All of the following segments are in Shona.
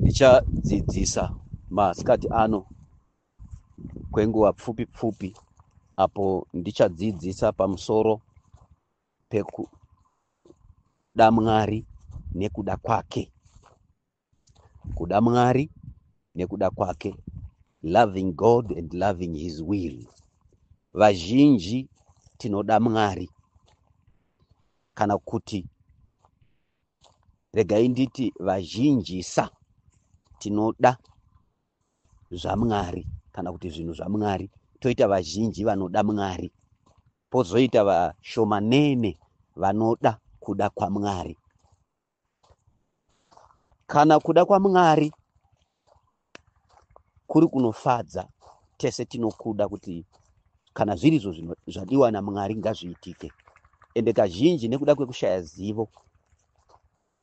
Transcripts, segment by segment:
Ndichadzidzisa masikati ano kwenguva pfupi pfupi apo ndichadzidzisa pamusoro pekuda Mwari nekuda kwake. Kuda Mwari nekuda kwake. Loving God and loving his will. Vazhinji tinoda Mwari kana kuti Regai nditi vazhinjisa tinoda zvaMwari kana kuti zvinhu zvaMwari, toita vazhinji vanoda Mwari, pozoita vashomanene vanoda kuda kwaMwari. Kana kuda kwaMwari kuri kunofadza tese tinokuda kuti kana zvirizvo zvadiwa namwari ngazviitike ende kazhinji nekuda kwekushaya zivo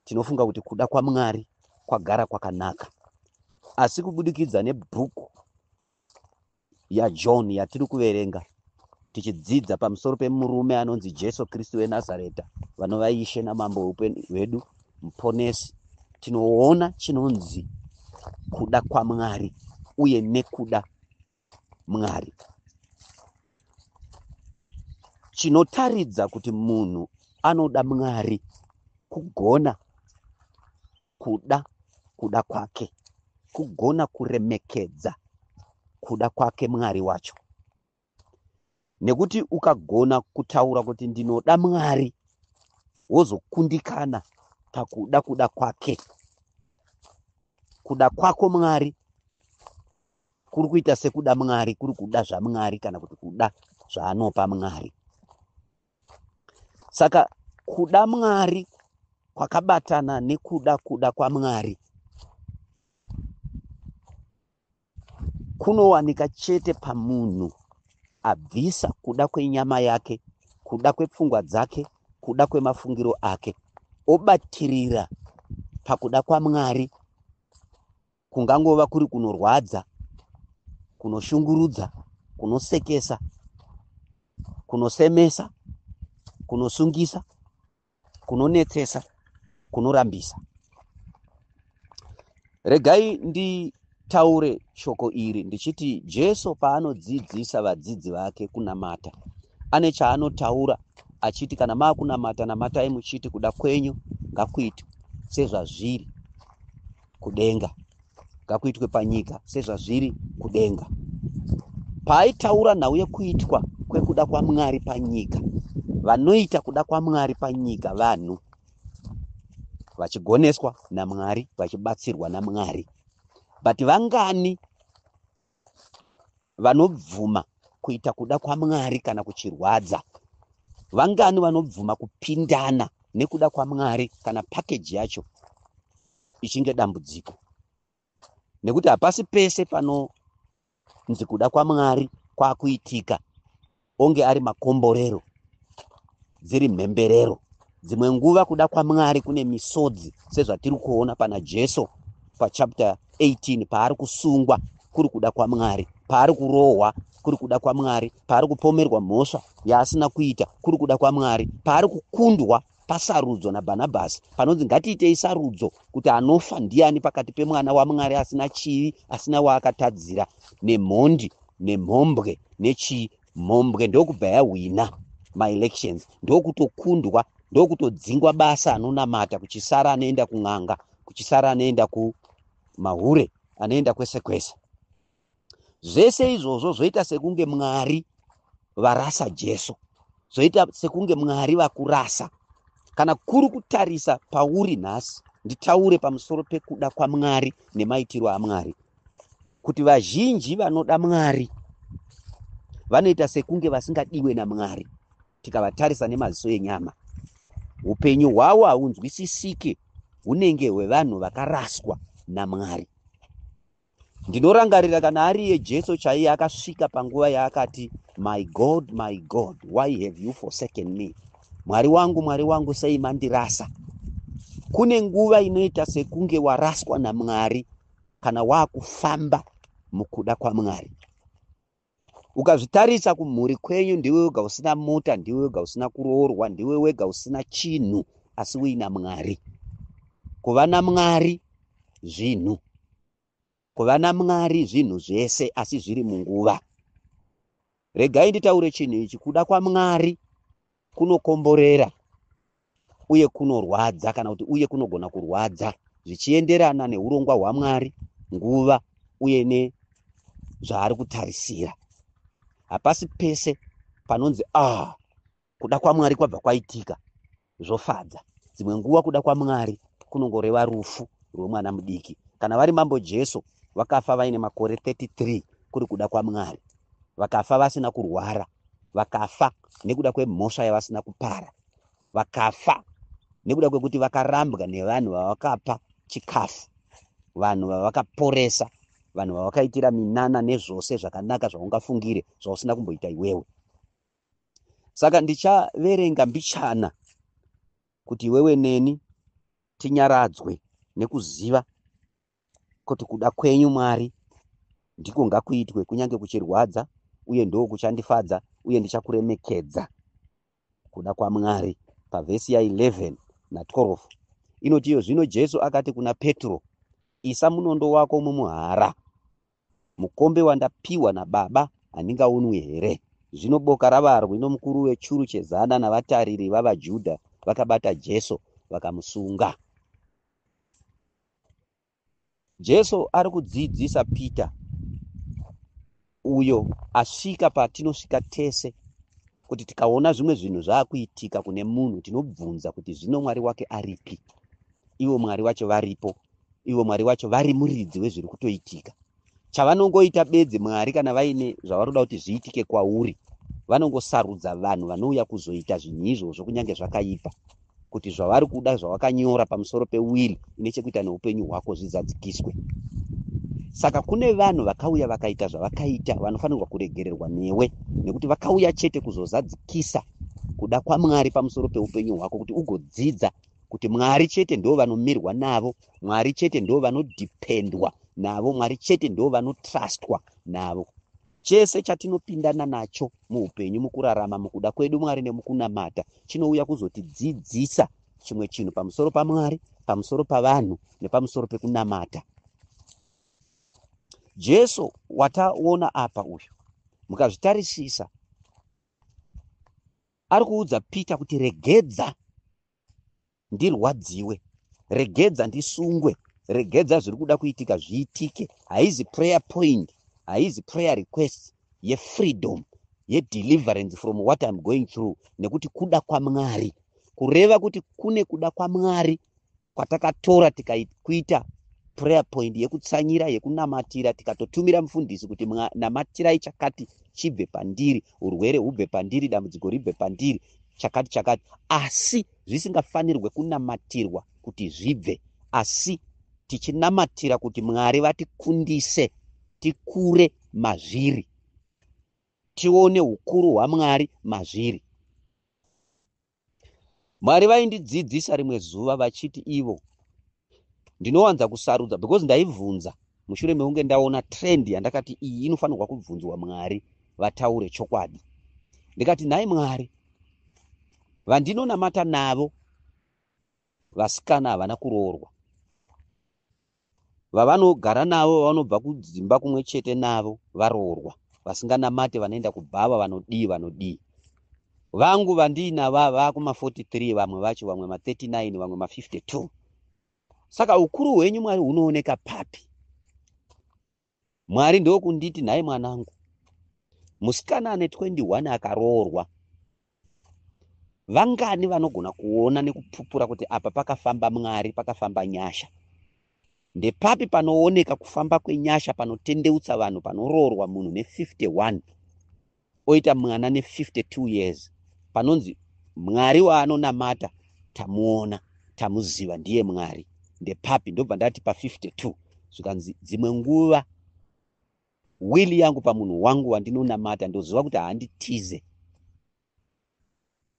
tinofunga kuti kuda kwamwari kwagara kwakanaka asi kubudikidza nebhuku yaJohn yatiri kuverenga tichidzidza pamusoro pemurume anonzi Jesu Kristu weNazareta vanova Ishe naMambo weupenyu hwedu muponesi tinoona chinonzi kuda kwaMwari uye nekuda Mwari chinotaridza kuti munhu anoda Mwari kugona kuda kuda kwake kugona kuremekedza kuda kwake mwari wacho nekuti ukagona kutaura kuti ndinoda mwari wozokundikana pakuda kuda kwake kuda kwako mwari kuri kuita sekuda mwari kuri kuda zvamwari kana kuti kuda zvaanopa mwari saka kuda mwari kwakabatana nekuda kuda kwamwari kunowanika chete pamunhu abvisa kuda kwenyama yake kuda kwepfungwa dzake kuda kwemafungiro ake obatirira pakuda kwamwari kungangova kuri kunorwadza kunoshungurudza kunosekesa kunosemesa kunosungisa kunonetsesa kunorambisa regai nditaure shoko iri ndichiti jesu paanodzidzisa vadzidzi vake kunamata ane chaanotaura achiti kana maakunamata namatai muchiti kuda kwenyu ngakuitwe sezvazviri kudenga ngakuitwe panyika sezvazviri kudenga paaitaura nhau yekuitwa kwekuda kwamwari panyika vanoita kuda kwamwari panyika vanhu vachigoneswa namwari vachibatsirwa namwari but vangani vanobvuma kuita kuda kwamwari kana kuchirwadza vangani vanobvuma kupindana nekuda kwamwari kana pakeji yacho ichinge dambudziko nekuti hapasi pese panonzi kuda kwamwari kwakuitika onge ari makomborero dziri mhemberero dzimwe nguva kuda kwamwari kune misodzi sezvatiri kuona pana jesu pachapter 18 paari kusungwa kuri kuda kwamwari paari kurohwa kuri kuda kwamwari paari kupomerwa mhosva yaasina kuita kuri kuda kwamwari paari kukundwa pasarudzo naBhanabhasi panonzi ngatiitei sarudzo kuti anofa ndiani pakati pemwana waMwari asina chivi asina waakatadzira nemhondi nemhombwe nechii mhombwe ndokubva yahwina maelections ndokutokundwa ndokutodzingwa basa anonamata kuchisara anoenda kun'anga kuchisara anoenda kumahure anoenda kwese kwese zvese izvozvo zvoita sekunge mwari varasa jesu zvoita sekunge mwari vakurasa kana kuri kutarisa pauri nhasi nditaure pamusoro pekuda kwamwari nemaitiro amwari kuti vazhinji vanoda mwari vanoita sekunge vasingadiwe namwari tikavatarisa nemaziso enyama upenyu hwavo haunzwisisike hunenge hwevanhu vakaraswa namwari Ndinorangarira kana ari iye Jesu chaiye akasvika panguva yaakati, My God, my God, why have you forsaken me? Mwari wangu, Mwari wangu, sei mandirasa? Kune nguva inoita sekunge waraswa naMwari kana waakufamba mukuda kwaMwari. ukazvitarisa kumhuri kwenyu ndiwe wega usina mota ndiwe wega usina kuroorwa ndiwe wega usina chinhu asi uina mwari kuva namwari zvinhu kuva namwari zvinhu zvese asi zviri munguva regai nditaure chinhu ichi kuda kwamwari kunokomborera uye kunorwadza kana kuti uye kunogona kurwadza zvichienderana neurongwa hwamwari nguva uye nezvaari kutarisira hapasi pese panonzi ah kuda kwamwari kwabva kwaitika zvofadza dzimwe nguva kuda kwamwari kunongoreva rufu rwemwana mudiki kana vari mambo jesu vakafa vaine makore 33 kuri kuda kwamwari vakafa vasina kurwara vakafa nekuda kwemhosva yavasina kupara vakafa nekuda kwekuti vakarambwa nevanhu vavakapa chikafu vanhu vavakaporesa vanhu vavakaitira minana nezvose zvakanaka zvaungafungire zvausina kumboita iwewe saka ndichaverenga mbichana kuti iwewe neni tinyaradzwe nekuziva kuti kuda kwenyu Mwari ndiko ngakuitwe kunyange kuchirwadza uye ndoo kuchandifadza uye ndichakuremekedza kuda kwaMwari pavhesi ya 11 na 12 inoti iyo zvino Jesu akati kuna Petro isa munondo wako mumuhara mukombe wandapiwa naBaba handingaunwi here zvino boka ravarwi nomukuru wechuru chezana navatariri vavaJudha vakabata Jesu vakamusunga Jesu ari kudzidzisa Peter uyo asvika patinosvika tese kuti tikaona zvimwe zvinhu zvaakuitika kune munhu tinobvunza kuti zvino mwari wake aripi ivo mwari wacho varipo ivo mwari wacho vari muridzi wezviri kutoitika Chavanongoita bedzi Mwari kana vaine zvavanoda kuti zviitike kwauri vanongosarudza vanhu vanouya kuzoita zvinhu izvozvo kunyange zvakaipa kuti zvavari kuda zvawakanyora pamusoro pewiri ine chekuita neupenyu hwako zvidzadzikiswe saka kune vanhu vakauya vakaita zvavakaita vanofanirwa kuregererwa newe nekuti vakauya chete kuzozadzikisa kuda kwamwari pamusoro peupenyu hwako kuti ugodzidza kuti mwari chete ndo vanomirwa navo mwari chete ndo vanodependwa navo mwari chete ndo vanotrustwa navo chese chatinopindana nacho muupenyu mukurarama mukuda kwedu mwari nemukunamata chinouya kuzotidzidzisa chimwe chinhu pamusoro pamwari pamusoro pavanhu nepamusoro pekunamata jesu wataona apa uyu mukazvitarisisa ari kuudza peter kuti regedza ndirwadziwe regedza ndisungwe regedza zviri kuda kuitika zviitike haizi prayer point haizi prayer request yefreedom yedeliverance from what im going through nekuti kuda kwamwari kureva kuti kune kuda kwamwari kwatakatora tikakuita prayer point yekutsanyira yekunamatira tikatotumira mufundisi kuti namatirai chakati chibve pandiri urwere hubve pandiri dambudziko ribve pandiri chakati chakati asi zvisingafanirwe kunamatirwa kuti zvibve asi tichinamatira kuti mwari vatikundise tikure mazviri tione ukuru hwamwari mazviri mwari vaindidzidzisa rimwe zuva vachiti ivo ndinowanza kusarudza because ndaibvunza mushure mekunge ndaona trend yandakati iyi inofanirwa kubvunzwa mwari vataure chokwadi ndikati nhai mwari vandinonamata navo vasikana havana kuroorwa vavanogara navo vavanobva kudzimba kumwe chete navo varoorwa vasinganamate vanoenda kubhava vanodii vanodii vangu vandiinava vakuma 43 vamwe vacho vamwe ma 39 vamwe ma 52 saka ukuru hwenyu mwari hunooneka papi Mwari ndokunditi nhai mwanangu, musikana ane 21 akaroorwa vangani vanogona kuona nekupupura kuti apa pakafamba Mwari, pakafamba nyasha. Ndepapi panooneka kufamba kwenyasha panotendeutsa vanhu panoroorwa munhu ne 51 oita mwana ne 52 years panonzi mwari waanonamata tamuona tamuziva ndiye mwari ndepapi ndobva ndati pa 52 zvikanzi dzimwe nguva wili yangu pamunhu wangu wandinonamata ndoziva kuti handitize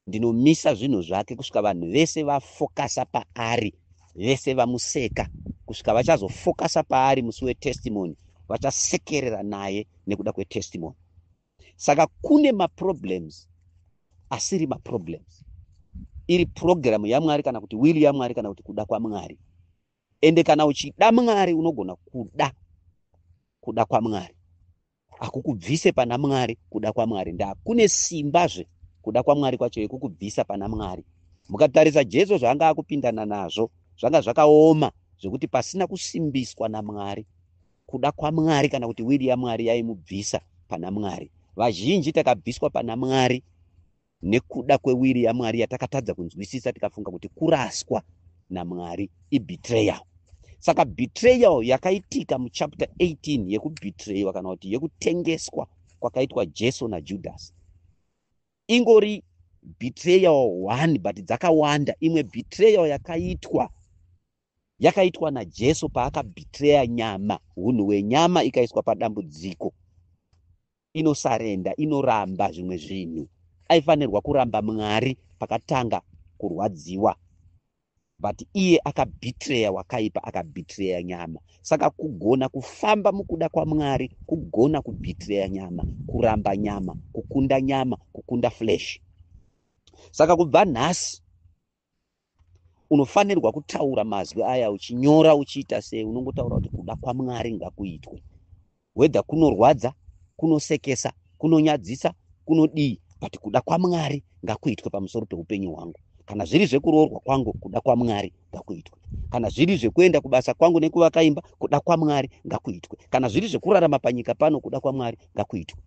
ndinomisa zvinhu zvake kusvika vanhu vese vafokasa paari vese vamuseka kusvika vachazofokasa paari musi wetestimony vachasekerera naye nekuda kwetestimony saka kune maproblems asiri maproblems iri purogiramu yamwari kana kuti wili yamwari kana kuti kuda kwamwari ende kana uchida mwari unogona kuda kuda kwamwari hakukubvise pana mwari kuda kwamwari nda kune simbazve kuda kwamwari kwacho yekukubvisa pana mwari mukatarisa jesu zvaanga akupindana nazvo zvanga zvakaoma zvekuti pasina kusimbiswa namwari kuda kwamwari kana kuti wiri yamwari yaimubvisa pana mwari vazhinji takabviswa pana mwari nekuda kwewiri yaMwari yatakatadza kunzwisisa tikafunga kuti kuraswa naMwari ibetrayal. Saka betrayal yakaitika muchapter 18 yekubetrayiwa kana kuti yekutengeswa kwakaitwa Jesu naJudhasi ingori betrayal one but dzakawanda. Imwe betrayal yakaitwa yakaitwa naJesu paakabetreya nyama, hunhu hwenyama ikaiswa padambudziko inosarenda inoramba zvimwe zvinhu aifanirwa kuramba mwari pakatanga kurwadziwa but iye akabitreya wakaipa akabitreya nyama saka kugona kufamba mukuda kwamwari kugona kubitreya nyama kuramba nyama kukunda nyama kukunda flesh saka kubva nhasi unofanirwa kutaura mazwi aya uchinyora uchiita sei unongotaura kuti kuda kwamwari ngakuitwe wedha kunorwadza kunosekesa kunonyadzisa kunodii but kuda kwamwari ngakuitwe pamusoro peupenyu hwangu kana zviri zvekuroorwa kwangu kuda kwamwari ngakuitwe kana zviri zvekuenda kubasa kwangu nekuvaka imba kuda kwamwari ngakuitwe kana zviri zvekurarama panyika pano kuda kwamwari ngakuitwe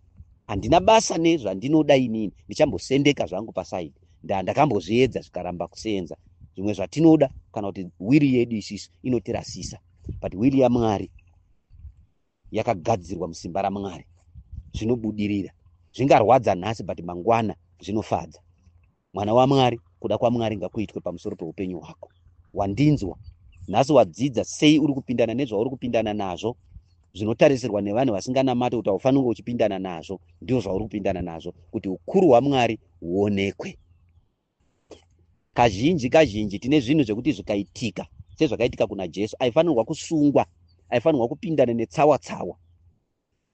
handina basa nezvandinoda inini ndichambosendeka zvangu pasaidi ndakambozviedza zvikaramba kuseenza zvimwe zvatinoda kana kuti wiri yedu isisu inotirasisa but wiri yamwari yakagadzirwa musimba ramwari zvinobudirira zvingarwadza nhasi but mangwana zvinofadza mwana wamwari kuda kwamwari ngakuitwe pamusoro peupenyu hwako wandinzwa nhasi wadzidza sei uri kupindana nezvauri kupindana nazvo zvinotarisirwa nevanhu vasinganamati kuti haufanirwe uchipindana nazvo ndizvo zvauri kupindana nazvo kuti ukuru hwamwari huonekwe kazhinji kazhinji tine zvinhu zvekuti zvikaitika sezvakaitika kuna jesu aifanirwa kusungwa aifanirwa kupindana netsawa tsawa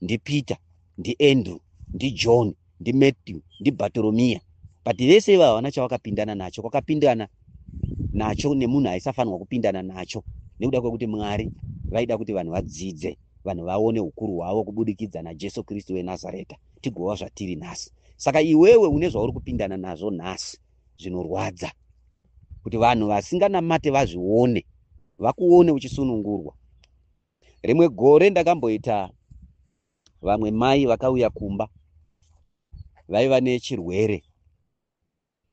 ndipeter ndiandrew ndijohn ndimatthew ndibatoromiya but vese ivo havana chavakapindana nacho kwakapindana nacho nemunhu aisafanirwa kupindana nacho nekuda kwekuti mwari vaida kuti vanhu vadzidze vanhu vaone ukuru hwavo kubudikidza najesu kristu wenazareta tigova zvatiri nhasi saka iwewe une zvauri kupindana nazvo nhasi zvinorwadza kuti vanhu vasinganamate vazvione vakuone uchisunungurwa rimwe gore ndakamboita vamwe mai vakauya kumba vaiva nechirwere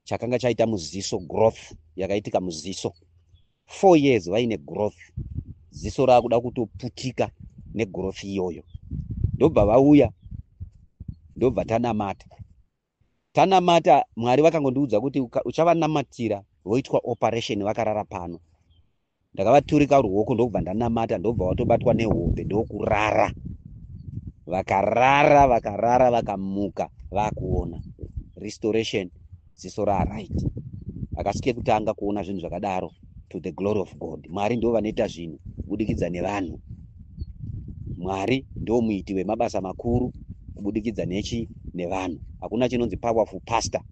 chakanga chaita muziso growth yakaitika muziso four years vaine growth ziso raakuda kutoputika negrowth iyoyo ndobva vauya ndobva tanamata tanamata mwari vakangondiudza kuti uchavanamatira voitwa operation vakarara pano ndakavaturika ruoko ndokubva ndanamata ndokubva vatobatwa nehope ndokurara vakarara vakarara vakamuka vakuona restoration ziso raaright akasike kutanga kuona zvinhu zvakadaro to the glory of god mwari ndivo vanoita zvinhu kubudikidza nevanhu mwari ndiwo muiti wemabasa makuru kubudikidza nechi nevanhu hakuna chinonzi powerful pastor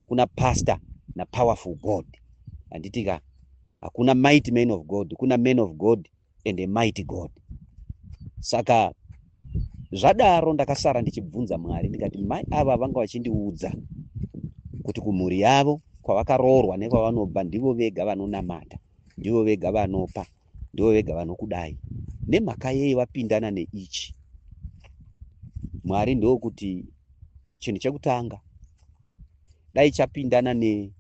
kuna pastor napowerful god handitika hakuna mighty man of god kuna man of god and a mighty God. Saka zvadaro ndakasara ndichibvunza Mwari ndikati mai ava vanga vachindiudza kuti kumhuri yavo kwavakaroorwa nekwavanobva ndivo vega vanonamata, ndivo vega vanopa, ndivo vega vanokudai. Nemhaka yei vapindana neichi? Mwari ndokuti chinhu chekutanga dai chapindana ne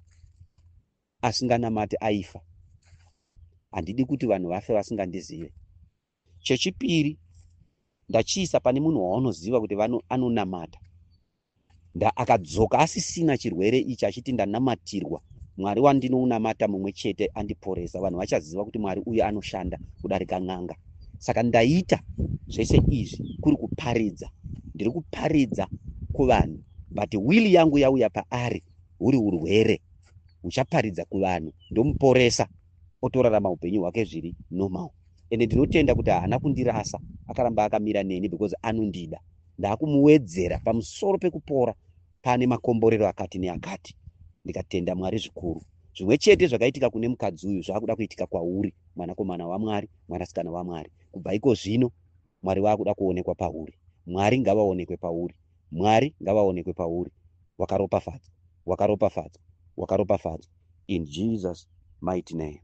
asinganamati aifa handidi kuti vanhu vafe vasingandizive chechipiri ndachiisa pane munhu waunoziva kuti vano anonamata nda akadzoka asisina chirwere ichi achiti ndanamatirwa mwari wandinounamata mumwe chete andiporesa vanhu vachaziva kuti mwari uyu anoshanda kudarika n'anga saka ndaita zvese izvi kuri kuparidza ndiri kuparidza kuvanhu but wili yangu yauya paari huri urwere uchaparidza kuvanhu ndomuporesa otorarama upenyu hwake zviri normal ende ndinotenda kuti haana kundirasa akaramba akamira neni because anondida ndaakumuwedzera pamusoro pekupora paane makomborero akati neakati ndikatenda mwari zvikuru zvimwe chete zvakaitika kune mukadzi uyu zvaakuda kuitika kwauri mwanakomana wamwari mwanasikana wamwari kubva iko zvino mwari waakuda kuonekwa pauri mwari ngavaonekwe pauri mwari ngavaonekwe pauri wakaropafadzwa wakaropafadzwa wakaropafadzwa in jesus mighty name